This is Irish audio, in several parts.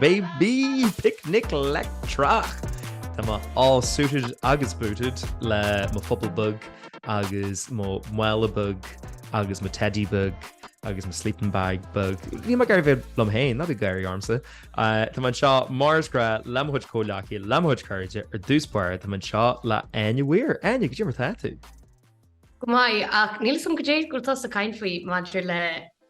Baby! Picnic leictreach! Tá mé all suited agus booted le mo phuball beag agus mo mhála beag agus mo teidí beag agus mo sleeping bag beag. Bhí mé ag gáirí liom féin, ná bí ag gáirí ormsa. Tá mé anseo mar is grá le mo chuid comhghleacaí, le mo chuid cairde, ar dtús báire tá mé anseo le Áine Weir. Áine, goidé mar atá tú? Go maith, ach níl 'fhios a'm goidé atá tusa ag caint faoi maidir le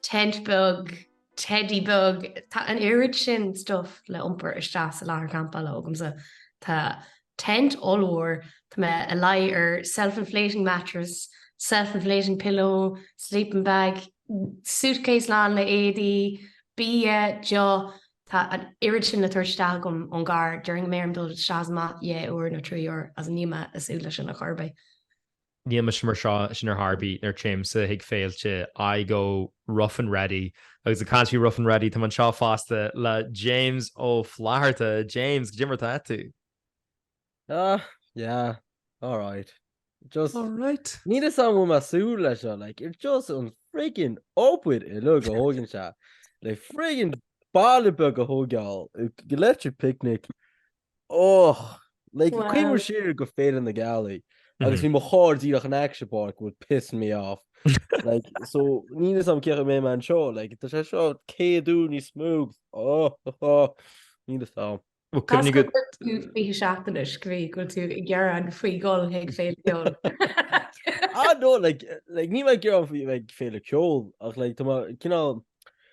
tent beag, teidí beag. Tá an oiread sin stuif le iompar isteach sa láthair champála agamsa, tá tent ollmhór, tá mé i mo luí ar self-inflating mattress, self-inflating pillow, sleeping bag, suitcase lán le éadaí, bia, deoch, tá an oiread sin le tabhairt isteach agam ón gcarr, déarfainn go mbeidh orm dul isteach is amach dhá uair nó trí uair so níl mé ag súil leis sin ar chor ar bith. Níl mise mar sin, sin ar chor ar bith, nuair a téimse chuig féilte, I go rough and ready. Agus ag caint faoi rough and ready, táim anseo fosta le James Ó Flatharta. James, goidé mar atá tú? Ah, yeah, alright. Just, Alright. Níl fhios a'm an bhfuil mé ag súil leis seo, like, it's just an friggin obair uilig a thógann sé le friggin baile beag a thógáil, go Electric Picnic, Och! Like, cuimhním siar go Féile na Gealaí agus bhí mo charr díreach in aice sa bpáirc, it would piss me off. Like, so níl fhios a'm cén chaoi a mbeidh mé anseo, like, tá sé seo céad uair níos mó, oh! Níl fhios a'm. Bhuel, cuimhnigh go. Cás go bhfuil tú 20 seachtain is go bhféadh go bhfuil tú ag gearán faoi dhul chuig féile ceoil. Ah, no, like, like, níl mé ag gearán faoi bheith ag féile ceoil ach, like, tá mé cineál,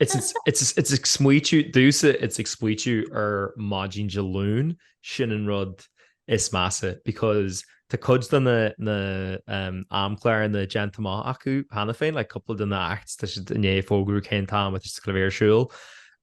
It's ag smaoitiú, domhsa, it's ag smaoitiú ar maidin Dé Luain, sin an rud is measa because tá cuid de na amchláir déanta amach acu cheana féin, like cúpla de na acts, tá siad i ndiaidh fógrú cén t-am atá siad le bheith ar siúl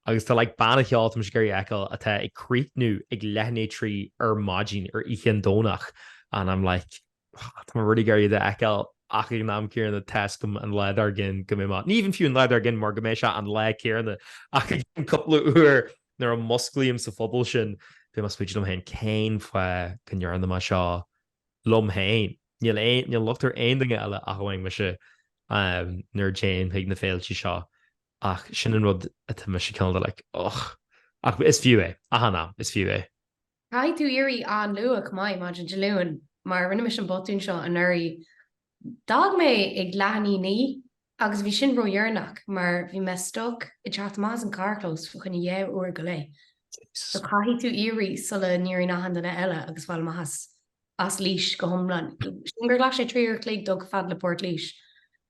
agus tá like banna ceoil atá mise ag iarraidh a fheiceáil atá ag críochnú ag leath i ndiaidh a trí ar maidin ar oíche Domhnaigh and I'm like Tá mé really ag iarraidh iad a fheiceáil ach ag an am céanna tá's agam an lá dár gcionn go mbeidh mé, ní even fiú an lá dár gcionn mar go mbeidh sé an lá céanna ach i gceann cúpla uair nuair a musclaím sa phuball sin beidh mé ag smaointeamh liom féin cén fáth go ndearna mé seo liom féin? Níl aon, níl locht ar aon duine eile ach amháin mise nuair a téim chuig na féilte seo ach sin an rud atá mise cineál de like, ugh. Ach is fiú é, achan am, is fiú é. Caithfidh tú éirí an-luath, mai, maidin Dé Luain, mar rinne mise an botún seo anuraidh, d'fhág mé ag leath i ndiaidh a naoi agus bhí sin ródheireanach mar bhí mé stuck ag teacht amach as an charrchlós fá choinne dhá uair go leith. So caithfidh tú éirí sula n-éiríonn achan duine eile agus fáil amach as Laois go hiomlán. Sílim gur ghlac sé trí uair a chloig dul fhad le Port Laoise.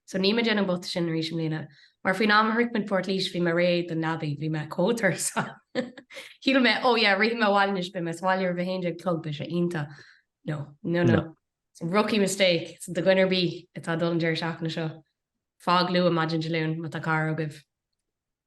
So níl mé ag déanamh an botún sin arís i mbliana, mar faoin am a shroich muid Port Laoise bhí mé réidh don leabaidh, bhí mé chomh tuirseach so shíl mé, oh yeah, rithfidh mé abhaile anois, beidh mé sa bhaile roimh a haon déag a chlog, beidh sé iontach. No. No, no. So rookie mistake. So do dhuine ar bith atá ag dul an deireadh seachtaine seo, fág luath maidin Dé Luain má tá carr agaibh.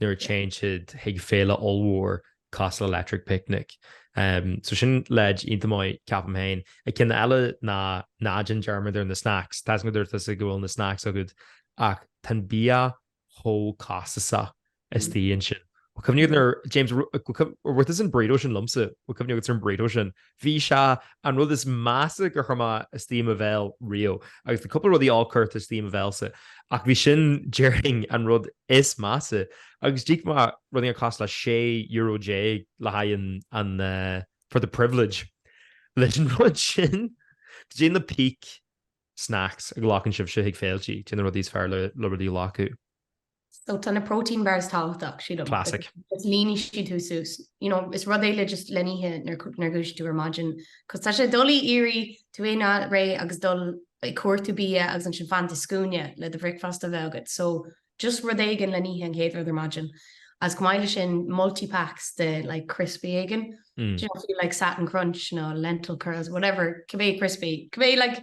nuair a téann siad chuig féile ollmhór cosúil le Electric Picnic. So sin leid iontach maith, ceapaim féin. Agus ceann eile ná ná déan dearmad ar na snacks. Tá's go ndúirt tusa go bhfuil na snacks agat ach tá an bia chomh costasach istigh ansin. Bhfuil cuimhne agat ar, James, bhfuil cuimhne, an raibh tusa ag an burrito sin liomsa? Bhfuil cuimhne agat ar an burrito sin? Bhí sé an rud is measa gur chuir mé istigh i mo bhéal riamh, agus bhí cúpla rudaí áille curtha istigh i mo bhéalsa, ach bhí sin, déarfainn, an rud is measa, agus d'íoc mé rud éigin cosúil le sé euro déag le haghaidh an, an eh, for the privilege, leis an rud sin. Caidé na peak snacks a ghlacann sibhse chuig féiltí, caidé na rudaí is fearr le rudaí a ghlacadh. So tá na protein bars tábhachtach, shíl liom. Classic. Is líonfaidh siad thú suas. You know, is rud é just le n-ithe nuair a dhúisíonn tú ar maidin, 'cause tá sé doiligh ag iarraidh tú féin a fháil réidh agus dul ag cuartú bia agus ansin fanacht sa scuaine le do bhricfeasta a bheith agat. So just rud éigin le n-ithe an chéad rud ar maidin. Agus chomh maith leis sin, multi packs de like criospaí éigin. Do you know, if you like satin crunch nó lentil curls, whatever, cibé criospaí, cibé like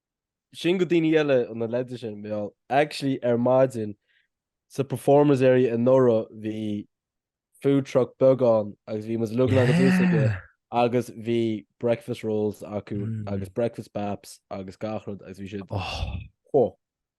sin do dhaoine eile leide sin mé actually ar maidin sa performers area i ndáiríre bhí food truck beag ann agus bhí mise ag úsáid agus bhí breakfast rolls acu mm. agus breakfast baps agus gach rud agus bhí siad oh.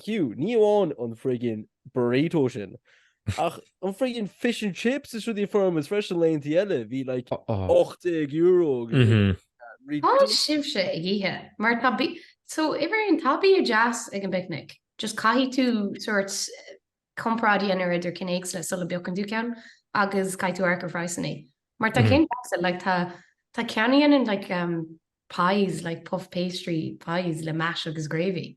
Fiú, ní amháin an friggin burrito sin, ach an friggin fish and chips is rudaí a fuair mise freisin laethanta eile, bhí like €18 agus caidé atá sibhse ag ithe mar tá bia, so uimhir aon tá bia deas ag an bpicnic, just caithfidh tú sort comparáid a dhéanamh idir cinn éagsúla sula bpiocann tú ceann agus caithfidh tú amharc ar phraghsanna mar tá cinn deasa, like tá tá ceann a dhéanann like pies like puff pastry pies le mash agus gravy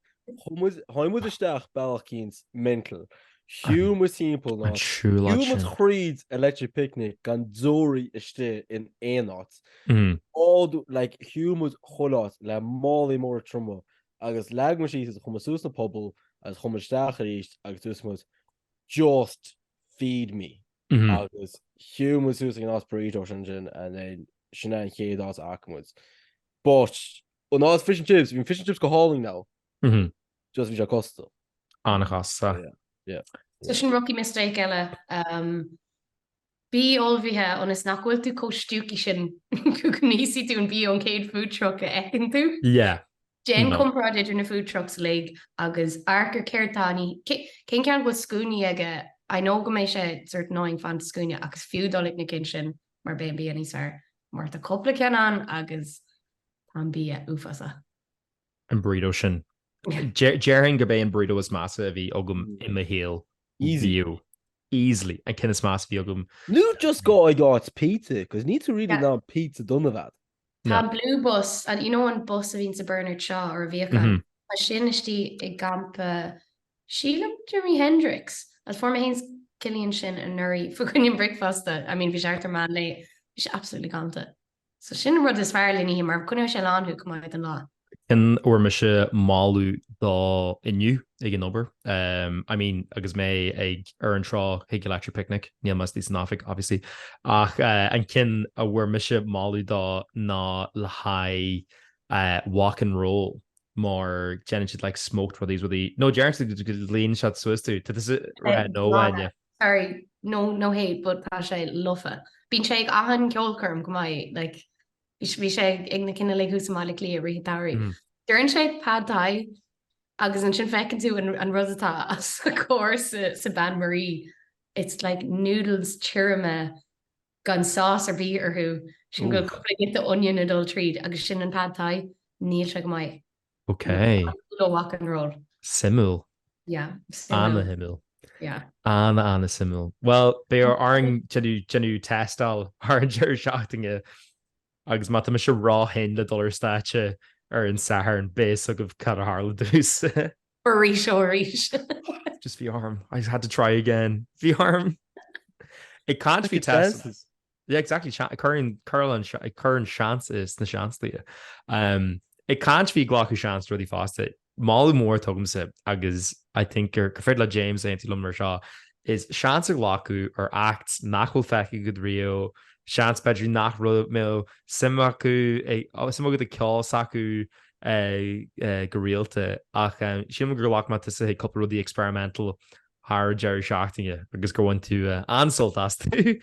Tháinig muid isteach bealach eicínt mental. Shiúil muid timpeall nó shiúil muid thríd Electric Picnic gan deoraí istigh in aon áit. Like, shiúil muid chuile áit le málaí móra troma agus leag muid iad síos agus chuir muid suas na pubaill agus chuaigh muid isteach arís agus dúirt muid Just feed me agus shiúil muid suas ag an áit burritos ansin and then sin é an chéad áit a fhaca muid. But, Oh no it's fish and chips, bhí fish and chips go hálainn now. Mhm. Just bhí sé costasach. An-chostasach. Yeah. So sin rookie mistake eile. Umm bí ullmhaithe ionas nach bhfuil tú chomh stiúcaí sin go n-íosfaidh tú an bia ón chéad food truck a fheiceann tú. Yeah. Déan No. comparáid idir na food trucks uilig agus amharc ar céard atá ann, cé, cén ceann a bhfuil scuaine aige, I know go mbeidh sé sort annoying fanacht sa scuaine agus is fiú dul ag na cinn sin mar beidh an bia níos fearr. Mar tá cúpla ceann ann agus Tá an bia uafásach. An burrito sin. Déarfainn gurb é an burrito is measa a bhí agam i mo shaol. Bhíodh. Easily. An ceann is measa a bhí agam. Nó just gabh ag áit pizza, cos ní tú really in ann pizza dona a bheith agat. Tá an blue bus, an, you know an bus a bhíonn sa Bernard Shaw or a bhíodh ann? Mhm. Tá sin istigh i gcampa sílim Jimi Hendrix. Is fuair mé féin is Cillian sin anuraidh fá choinne an bricfeasta. I mean bhí sé thart ar meán lae. Bhí sé absolutely galanta. So sin an rud is fearr le n-ithe, mar coinneoidh sé lán thú chomh maith don lá. An ceann a bhfuair mise moladh dó inniu ag an obair? I mean agus mé ag freagairt rá chuig Electric Picnic, níl mé istigh san oifig obviously, ach an ceann a bhfuair mise moladh dó ná le haghaidh Wok and Roll mar déanann siad like smoked rudaí is rudaí, no dáiríre líonann siad suas thú, tá tú sa, no Áine. Sorry, no no hate but tá sé lofa. Bíonn sé ag achan ceolchoirm go mbeadh like bhí bhí sé ag na cinn uilig thuas i mBaile Cliath rith Dairí. Deireann sé pad thai agus ansin feiceann tú an an rud atá os a comhair sa sa Bain Marie it's like noodles tirime gan sauce ar bith orthu ansin go bhfuil cúpla giota onion ag dul tríd agus sin an pad thai. Níl sé go maith. Ok. Wok and Roll. Suimiúil. Yeah, suimiúil. Ana-shuimiúil. Yeah. Ana, ana-shuimiúil. Bhuel, beidh orainn é a thástáil thar an deireadh seachtaine agus má tá mise ró-thinn le dul ar stáitse ar an Satharn, beidh a fhios agaibh cad a tharla dúinn. Arís ó arís. Just bhí orm. I just had to try again. Bhí orm. Ag caint faoi tástáil. Yeah, exactly, ag cur an seans sna seanchaí. Ag caint faoi ghlacadh seans rudaí fosta, moladh mór atá agamsa agus I think gur féidir le James aontú liom leis seo, is seans a ghlacadh ar acts nach bhfuil feicthe agat riamh, seans b'fhéidir nach mbeadh suim agat i gceol s'acu go rialta ach sílim gur ghlac mé tusa chuig cúpla rud experimental thar an deireadh seachtaine agus gur bhain tú an-sult astu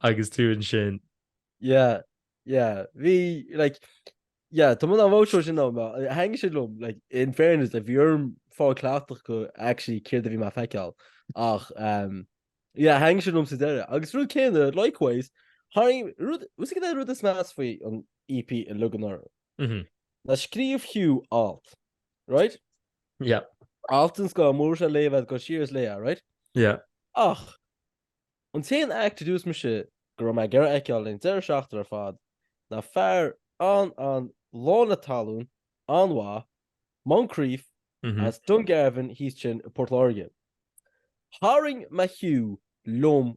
agus tú ansin. Yeah, yeah. Bhí, like, yeah, tá muid á bhfóisiú sin dom. Thaitin siad liom, like, in fairness, like, bhí orm fáil cleachtach go actually céard a bhí mé feiceáil. Ach, um, yeah, thaitin siad liom sa deireadh. Agus rud céanna, likewise, tháinig rud, ús ag an rud is measa faoi an EP i Lugan Orm. Mhm. Ná scríobh Hugh alt. right? Yeah. Alt den scoth, mura bhfuil sé léite agat gabh siar is léigh é, right? Yeah. Ach, an t-aon act a dúirt mise go raibh mé ag iarraidh a fheiceáil le deireadh seachtaine ar fad ná fear an an lán de thallann an-mhaith, Moncrieff, as Dungarvan thíos ansin i bPort Láirge. Tharraing mé Hugh liom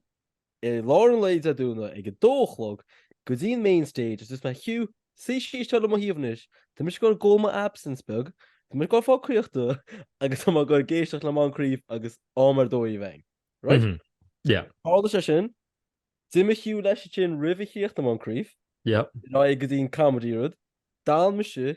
I lár an lae Dé Domhnaigh ag a dó a chlog, go dtí an main stage is dúirt mé Hugh, suigh síos anseo le mo thaobh anois, tá mise ag dul ag ól mo absinthe beag, tá mise ag dul fáil caochta agus tá mé ag dul ag éisteacht le Moncrieff agus am ar dóigh a bheith agam. Right? Mhm. Yeah. Tharla sé sin, d'imigh Hugh leis ansin roimh thíocht Moncrieff, Yep. ná é go dtí an comedy rud, d'fhan mise,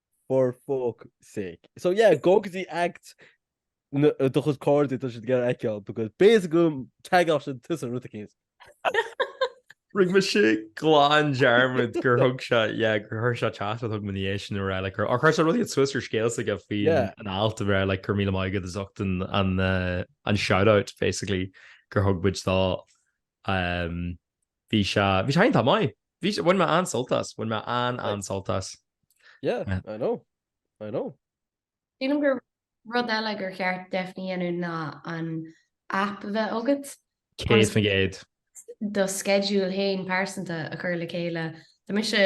for fuck sake so yeah gabh go dtí act do chuid cairde atá siad ag iarraidh a fheiceáil because basic go teagmhach sin tusa rud a céas. Rinne mise glan dearmad gur thug sé yeah gur chuir sé téacs chugam inné sin a rá le Hugh chuir sé rud éigin suas ar scéal s'aige faoi an alt a bhí like go raibh míle maith agat as ucht an an shout out basically gur thug muid dó Bhí sé, bhí sé iontach maith. Bhí sé, bhain mé an-sult as, bhain mé an-an-sult as. Yeah, I know, I know. Sílim gur rud eile gur cheart definitely a dhéanamh ná an aip a bheith agat. 100%. do schedule fhéin pearsanta a chur le chéile. Tá mise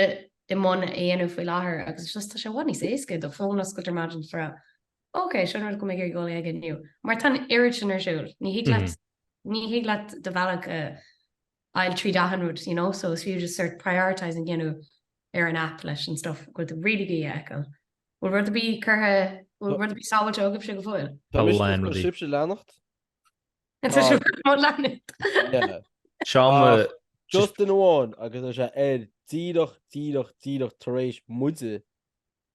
i mbun a dhéanamh faoi láthair agus just tá sé i bhfad níos éasca do phone a oscailt ar maidin, do Ok, seo an rud go mbeidh mé ag dul aige inniu. Mar tá an oiread sin ar siúl, ní thig leat, ní thig leat do bhealach a fháil tríd achan rud, you know, so is fiú just sort prioritising a dhéanamh ar an app leis an stuff a bhfuil tú really ag iarraidh a fheiceáil. Bhfuil rud ar bith curtha, bhfuil rud ar bith sábháilte agaibhse go fóill? Tá mise ag cur sibhse leanacht. An tá sibh ag cur leanacht? Yeah. Seo mo. Ach just duine amháin agus tá sé air díreach, díreach, díreach tar éis muide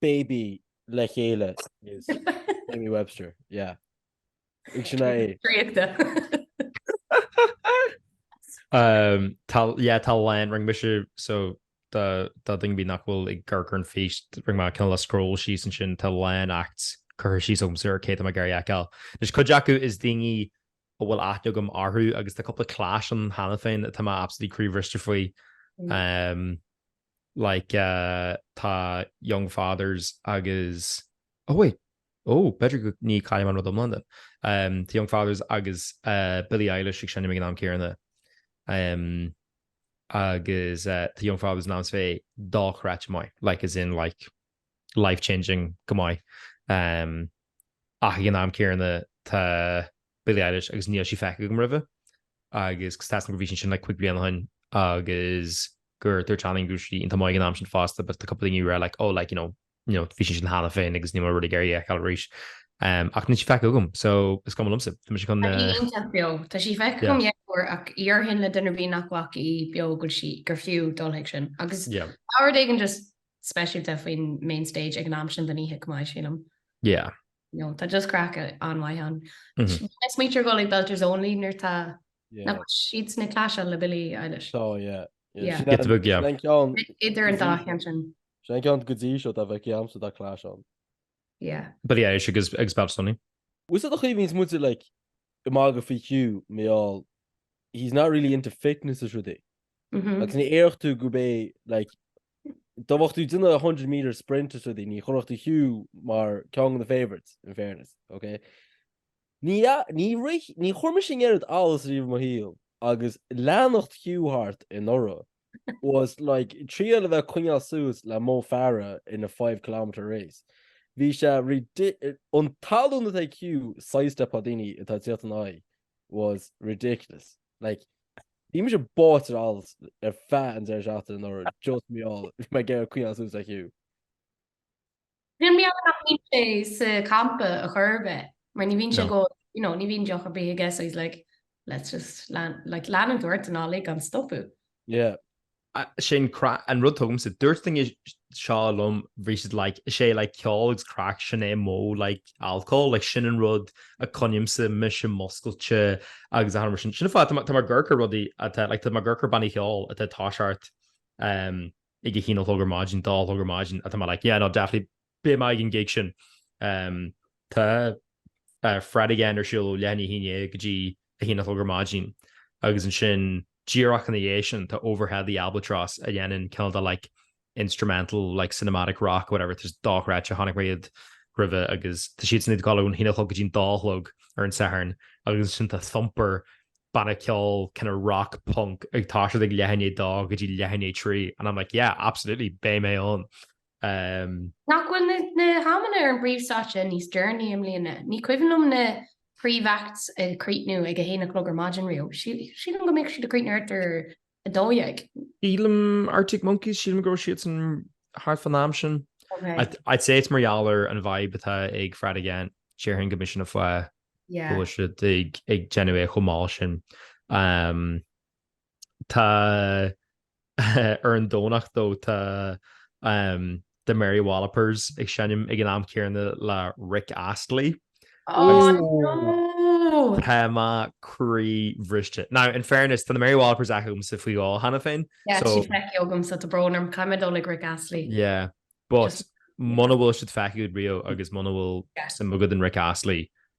baby le chéile is Jamie Webster, yeah. Ag sin é. Draíochta. Um, tá, yeah, tá a lán, rinne mise, so, do, do dhuine ar bith nach bhfuil ag amharc ar an fís, rinne mé cineál scroll síos ansin, tá a lán act curtha síos agam ar cé atá mé ag iarraidh a fheiceáil. Anois cuid acu is daoine a bhfuil aithne agam orthu, agus tá cúpla clash ann cheana féin, tá mé absolutely croíbhriste faoi. Um, like tá young fathers agus oh wait oh b'fhéidir go ní chaillim an rud iomlán den ehm tá young fathers agus eh Billie Eilish ag seinm ag an am céarna ehm agus eh tá young fathers in ainm is a bheith dochreidte maith like as in like life changing go maith ach ag an am céarna tá Billie Eilish agus níl sí feicthe agam roimhe agus tá a fhios agam go bhí sí ansin like cúig bliana ó shin agus gur dúirt achan duine go raibh sí iontach maith ag an am sin fosta but tá cúpla daoine were like oh like you know you know bhí sí ansin cheana féin agus níl mé really ag iarraidh í a fheiceáil arís ach níl sí feicthe agam so is cuma liomsa tá mise chun Tá sí iontach beo tá sí feicthe agam yeah dheirfiúr ach déarfainn le duine ar bith nach bhfaca í beo go bhfuil sí gur fiú dul chuig sin agus yeah tá rud éigin just speisialta faoin main stage ag an am sin den oíche chomh maith, sílim. Yeah. No, tá just craic an-mhaith ann. Bhí mé ag smaointiú ar dhul ag Belters Only nuair tá, nach bhfuil siadsan ag clash-áil le Billie Eilish? Tá, yeah. Yeah. Sin Get the bug, yeah. an ceann, Idir an dá cheann sin. sin an ceann go dtí seo a bheadh agamsa atá clash ann. Yeah. Billie Eilish agus Belters Only. Bhí sé do chaoimhín is muid like ag magadh faoi Hugh mar gheall he's not really into fitness is rudaí. Agus ní déarfadh tú gurb é like dá mbeadh tú ag déanamh 100 metre sprint is rudaí ní chuirfeadh tú Hugh mar ceann de na favourites, in fairness, ok? Ní ní níor chuir mise an oiread allas riamh i mo shaol agus leanacht Hugh thart anuraidh. was like triail a bheith ag coinneáil suas le Mo Farah in a five kilometre race. Bhí sé an tallann atá ag Hugh sidestep-áil daoine atá ag teacht ina aghaidh was ridiculous. Like bhí mise báite in allas ar feadh an deireadh seachtaine anuraidh just mar gheall bhí mé ag iarraidh coinneáil suas le Hugh. Níl mé ann nach mbíonn sé sa champa a chor ar bith, mar ní bhíonn sé go, you know, ní bhíonn deoch ar bith aige so he's like let's just lean, like leanann tú ort an lá uilig gan stopadh. Yeah. Sin craic, an rud tuigimse dúirt duine seo liom bhí siad like, is é like ceol agus craic sin é mo like alcohol, like sin an rud a choinnímse mise múscailte agus sin sin an fáth tá mé ag amharc ar rudaí atá like tá mé ag amharc ar bannaí ceoil atá ag toiseacht um, ag a haon a chlog ar maidin, dó a chlog ar maidin, atá mé like yeah no definitely beidh mé ag an gig sin em tá eh Fred again ar siúl ó leath i ndiaidh a haon déag go dtí a haon a chlog ar maidin agus ansin díreach ina dhiaidh sin tá Overhead the Albatross a dhéanann cineál de like instrumental like cinematic rock whatever tá siad dochreidte chonaic mé iad roimhe agus tá siadsan ag a haon a chlog go dtí an dó a chlog ar an Satharn agus ansin tá Thumper banna ceoil kind of rock punk ag tá siad ag leath i ndiaidh 2 go dtí leath i ndiaidh 3 and I'm like yeah absolutely beidh mé ann um, Nach bhfuil na, na hamanna ar an bpríomhstáitse níos deireanaí i mbliana, ní cuimhin liom na príomh-acts ag críochnú ag a haon a chlog ar maidin riamh. Sí- Sílim go mbeadh siad ag críochnú thart ar 12. Sílim, Arctic Monkeys, sílim go raibh siadsan thart fán am sin. I'd say it's mar gheall ar an vibe atá ag Fred again, déarfainn gurb in an fáth go bhfuil siad ag déanamh é chomh mall sin. Tá ar an Domhnach though tá The Mary Wallopers ag seinm ag an am céanna le Rick Astley. Oh no! Tá mé croí-bhriste. Now, in fairness, tá na Mary Wallopers feicthe agamsa faoi dhó cheana féin, so. Yeah, tá siad feicthe agamsa, tá brón orm, caithfidh mé dul ag Rick Astley. Yeah, but muna bhfuil siad feicthe agat riamh agus muna bhfuil suim agat in Rick Astley,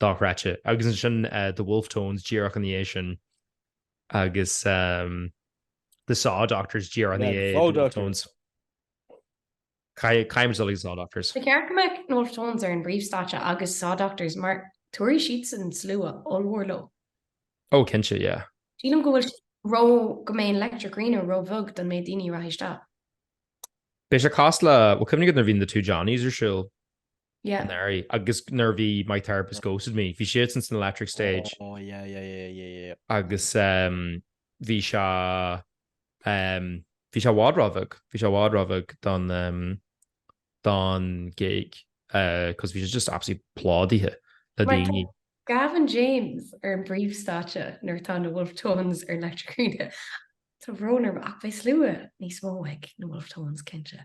dochreidte. Agus ansin The Wolfe Tones díreach ina dhiaidh sin agus The Saw Doctors díreach ina dhiaidh The Wolfe Tones. Caithfidh muid dul ag Saw Doctors. Ba cheart go mbeadh The Wolfe Tones ar an bpríomhstáitse agus Saw Doctors mar tabharfaidh siadsan slua ollmhór leo. Oh cinnte, yeah. Sílim go bhfuil sé ró, go mbeidh an Electric Arena ró-bheag don méid daoine a rachaidh isteach. Beidh sé casta le, bhuel cuimhnigh nuair a bhí na Two Johnnies ar siúl. Yeah. Anuraidh, agus nuair a bhí My Therapist Ghosted Me, bhí siadsan san Electric Stage. Oh, yeah, yeah, yeah, yeah, yeah. Agus um, bhí sé, um, bhí sé i bhfad róbheag, bhí sé i bhfad róbheag don, um, don gig, uh, cos bhí sé just absolutely plódaithe le daoine. Mar tá Gavin James ar an bpríomhstáitse nuair atá na Wolfe Tones ar Electric Arena. Tá brón orm ach beidh slua níos mó ag na Wolfe Tones, cinnte.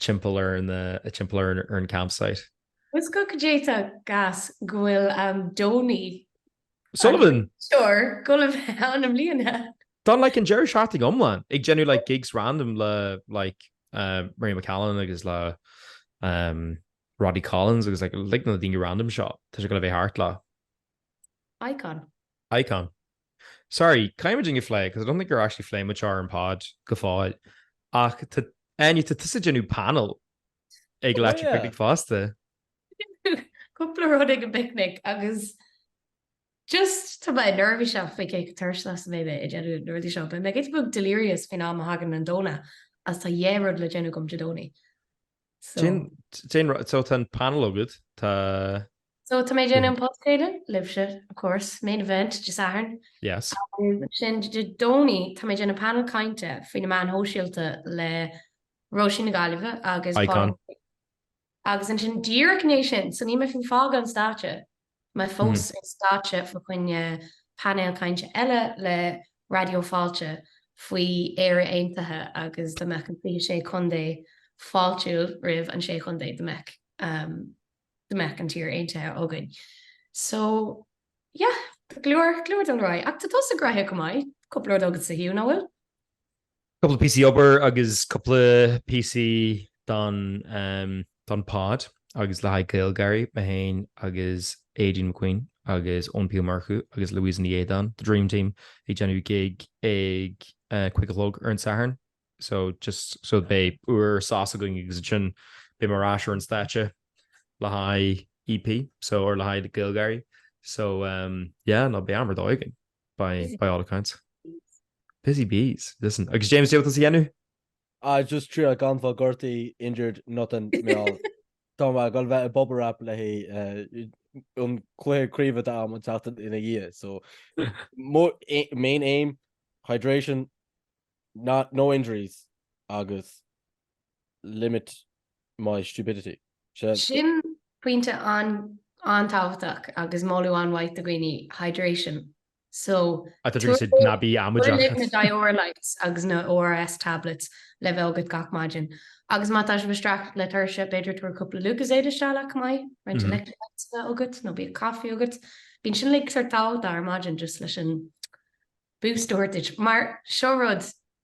timpeall ar na, timpeall ar an campsite. Is goidé chomh gas go bhfuil am Donie O'Sullivan, sure, goil a bheith ann i mbliana! Don like an deireadh seachtaine iomlán ag déanamh like gigs random le like Mary McAleese agus le Roddy Collins agus like na daoine random seo, tá sé goil a bheith thart le. Icon. Icon. Sorry, caithfidh muid é a phlé, because I don't think gur actually phléigh muid ar an pod go fóill, ach tá, Áine, tá tusa ag déanamh panel ag Electric Picnic fosta. Cúpla rud ag an bpicnic agus just, tá mé neirbhíseach faoi cé chomh tuirseach is a bheidh mé ag déanamh na rudaí seo. Beidh mé giota beag delirious faoin am a thagann an Domhnach óir tá dhá rud le déanamh agam Dé Domhnaigh. So tá an panel agat, tá. So tá mé ag déanamh an podchraoladh libhse, of course, main event Dé Sathairn. Yes. Ansin Dé Domhnaigh tá mé ag déanamh panel cainte faoi na meáin shóisialta le Raidió na Gaeltachta agus Pádraig Ó Sé. Icon. Agus ansin díreach ina dhiaidh sin, so níl mé fiú ag fágáil an stáitse. Mé fós ar stáitse fá choinne painéal cainte eile le Raidió Fáilte faoi Éire Aontaithe agus dá mbeadh an 26 Contae fáiltiúil roimh an 6 Chontae dá mbeadh dá mbeadh an tír aontaithe againn. So, yeah, go leor, go leor ag dul ar aghaidh. Ach tá tusa gnoitheach chomh maith, cúpla rud agatsa, Hugh, nach bhfuil? Cúpla píosaí obair agus cúpla píosaí don pod agus le haghaidh GaelGÁIRÍ, mé féin agus Aideen McQueen agus Eoin P Ó Murchú agus Louisa Ní Éideáin, the dream team, ag déanamh gig ag a cúig a chlog ar an Satharn so just so beidh uair sos againn agus ansin beidh mé ar ais ar an stáitse le haghaidh EP so or le haghaidh GaelGÁIRÍ so yeah no beidh am ar dóigh againn. by all accounts. Busy bees. Listen, agus James, cad é atá tú a dhéanamh? Ah just triail gan fáil gortaithe, injured, nothing, meall. Tá mé ag dul a bheith i bubble wrap le haghaidh an cluiche craoibhe atá agam an tseachtain ina dhiaidh so main aim, hydration, no injuries agus limit my stupidity. Sea. Sin pointe an-tábhachtach agus moladh an-mhaith do dhaoine, hydration. So, tabhair linn na Dioralytes agus na ORS tablets le bheith agat gach maidin. Agus má tá sibh ag streachailt le tuirse, b'fhéidir tabhair cúpla Lucozade isteach leat chomh maith, roinnt electrolytes a bheith agat nó bíodh caife agat. Bíonn sin uilig sórt tábhachtach ar maidin just leis an, boost a thabhairt duit, mar seo rud,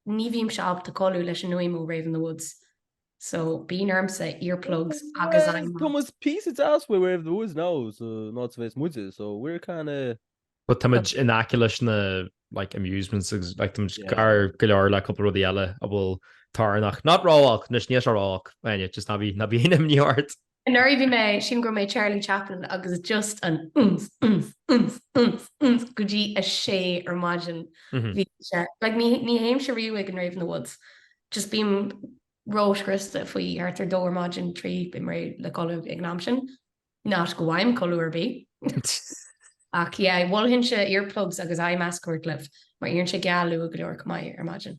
ní bhímse ábalta codladh leis an fhuaim ó Rave in the Woods, so bíonn ormsa earplugs agus I'm. Tá muid píosa deas uaidh Rave in the Woods now, san áit a bheas muide, so we're kinda. But tá muid in aice leis na like amusements agus like tá muid gar go leor le cúpla rudaí eile a bhfuil torannach, not ró-olc, anois níl sé ró-olc, just ná bí, ná bíodh aon imní ort. Anuraidh bhí mé, sílim go raibh mé i Charlie Chaplin agus just an umf, umf, umf, umf, umf go dtí a sé ar maidin bhí sé, like ní, ní théimse riamh ag an rave in the woods, just bím ró-scriosta faoi thart ar dó ar maidin, trí, bím réidh le codladh ag an am sin, not go bhfaighim codladh ar bith ach yeah mholfainnse earplugs agus eye mask a thabhairt libh mar éiríonn sé geal luath go leor chomh maith ar maidin.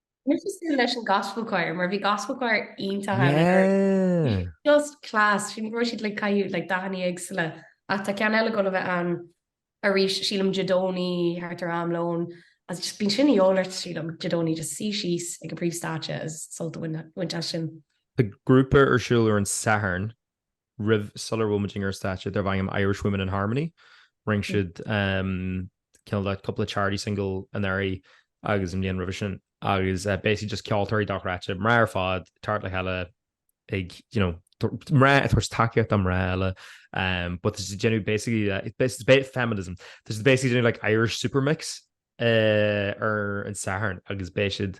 Níor chas tú leis an Gospel Choir mar bhí Gospel Choir iontach ann. Yeah. Just class. Sin raibh siad le caitheamh le dathanna éagsúla ach tá ceann eile ag dul a bheith ann arís, sílim Dé Domhnaigh thart ar am lóin is just bíonn sin a dhíobháil ort sílim Dé Domhnaigh just suí síos ag an príomhstáitse is sult a bhaint as sin. Tá grúpa ar siúl ar an Satharn roimh, sular bhfuil muidinne ar stáitse darb ainm Irish Women in Harmony. Rinne siad cineál de cúpla charity single anuraidh agus an bhliain roimhe sin agus basically just ceoltóirí dochreidte, mná ar fad, teacht le chéile ag you know mná ag tabhairt tacaíocht do mná eile but tá siad déanamh basically feminism, tá siad basically déanamh like Irish supermix ar an Satharn agus beidh siad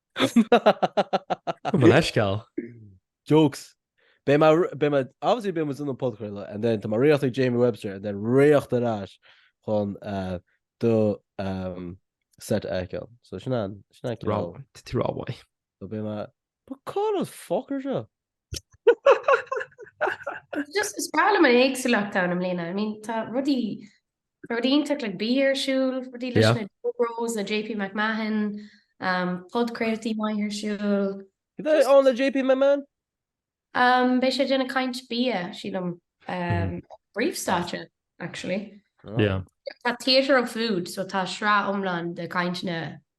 An bhfuil aisceál? Jokes. Beidh mé, beidh mé, obviously beidh muid ins an podchraoladh and then tá mé rith chuig Jamie Webster and then rith ar ais chun do set a fheiceáil. So sin an, sin an ceol. Rámhainn, tití rámhainn. So beidh mé, but cad an fuck ar seo? Just, is breá liom an éagsúlacht ann i mbliana, I mean tá rudaí Rudaí iontach le bia ar siúl, rudaí leis na Dough Bros, le JP McMahon, podchraoltaí maith ar siúl. Cad é ann le JP McMahon? Beidh sé ag déanamh caint bia, sílim, príomhstáitse, actually. Tá Theatre of Food, so tá sraith iomlán de chainteanna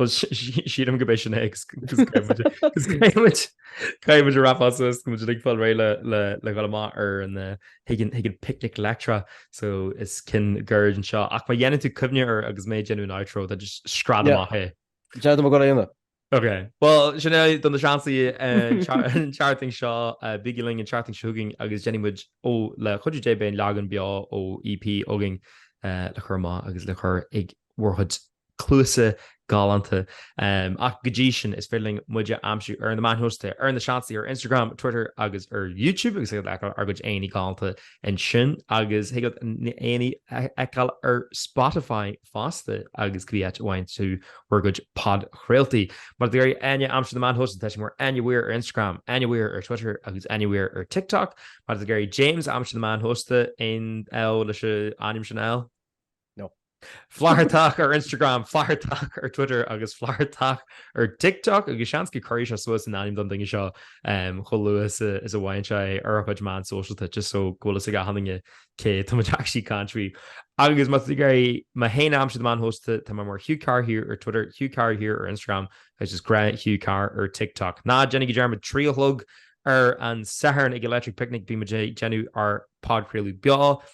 Bhuel, sílim go b'é sin é agus caithfidh muid a wrap suas is go bhfuil muid ag fáil réidh le dhul amach ar an chuig an picnic leictreach so is ceann gairid é seo. Ach má dhéanann tú cuimhne air agus mé ag déanamh an outro tá just scread amach é. Déanfaidh mé go hAoine. Ok. Bhuel, sin é do Na Seansálaithe an tseachtain seo. Bígí linn an tseachtain seo chugainn agus déanfaidh muid ó le chuidiú Dé beidh an leagan beo ó EP againn le cur amach agus le cur ag bhur gcuid cluasa galánta. Ach go dtí sin, is féidir linn muid a aimsiú ar na meáin shóisialta, ar Na Seansálaithe ar Instagram, Twitter agus ar YouTube agus thig leat fheiceáil ár gcuid aghaidheanna galánta ansin agus thig leat na haghaidheanna a fheiceáil ar Spotify fosta agus cibé áit a bhfaigheann tú bhur gcuid podchraoltaí. Má tá tú ag iarraidh Enya a aimsiú ar na meáin shóisialta, tá sé mar Enya Weir ar Instagram, Enya Weir ar Twitter agus Enya Weir ar TikTok. Má tá tú ag iarraidh James a aimsiú ar na meáin shóisialta, aon ádh leis an ainm sin, L? No. Flathartach ar Instagram, flathartach ar Twitter agus flathartach ar TikTok agus seans go cuirfidh sé suas an ainm don duine seo chomh luath is a bhfaigheann sé é ar a chuid meán sóisialta just so go bhfuil fhios ag achan duine cé tá muid actually caint faoi. Agus má tá tú ag iarraidh mé féin a aimsiú ar na meáin shóisialta tá mé mar Hugh Carr here ar Twitter, Hugh Carr here ar Instagram agus is grá Hugh Carr ar TikTok. Ná déanaigí dearmad trí a chlog ar an Satharn ag Electric Picnic beidh muid ag déanamh ár bpodchraoladh beo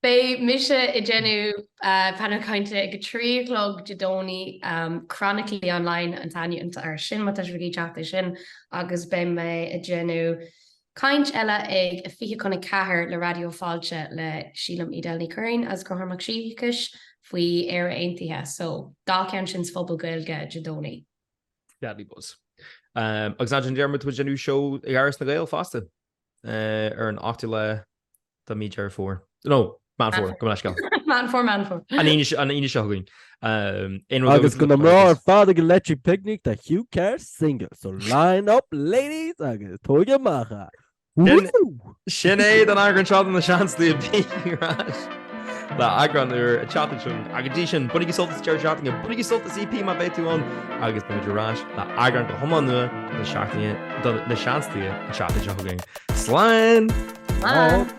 Beidh mise ag déanamh Panel Cainte ag a trí a chlog Dé Domhnaigh, Chronically Online an t-ainm air sin má tá sibh ag iarraidh teacht air sin, agus beidh mé ag déanamh caint eile ag a fiche chun a ceathair le Raidió Fáilte le sílim Edel Ní Churraoin agus Conchúr Mac Siacais faoi Éire Aontaithe, so dhá cheann sin sa Phuball Gaeilge Dé Domhnaigh. Deadly buzz. Agus ná déan dearmad go bhfuil muid ag déanamh seó ag Áras na nGael fosta. ar an 8ú lá de mhí Deireadh Fómhair. No, Meán Fómhair, gabh mo leithscéal! Meán Fómhair, Meán Fómhair. An Aoine seo chugainn. Aon rud Agus do na mná ar fad ag an Electric Picnic tá Hugh Carr single, so line up ladies agus tóigí amach é. Sin é don eagrán seo de Na Seansálaithe. Beimid ar ais. le eagrán úr an tseachtain seo chugainn ach go dtí sin, bainigí sult as deireadh seachtaine, bainigí sult as EP má bheidh tú ann agus beimid ar ais le eagrán go hiomlán nua de na seachtaine, de Na Seansálaithe an tseachtain seo chugainn. Slán! Slán!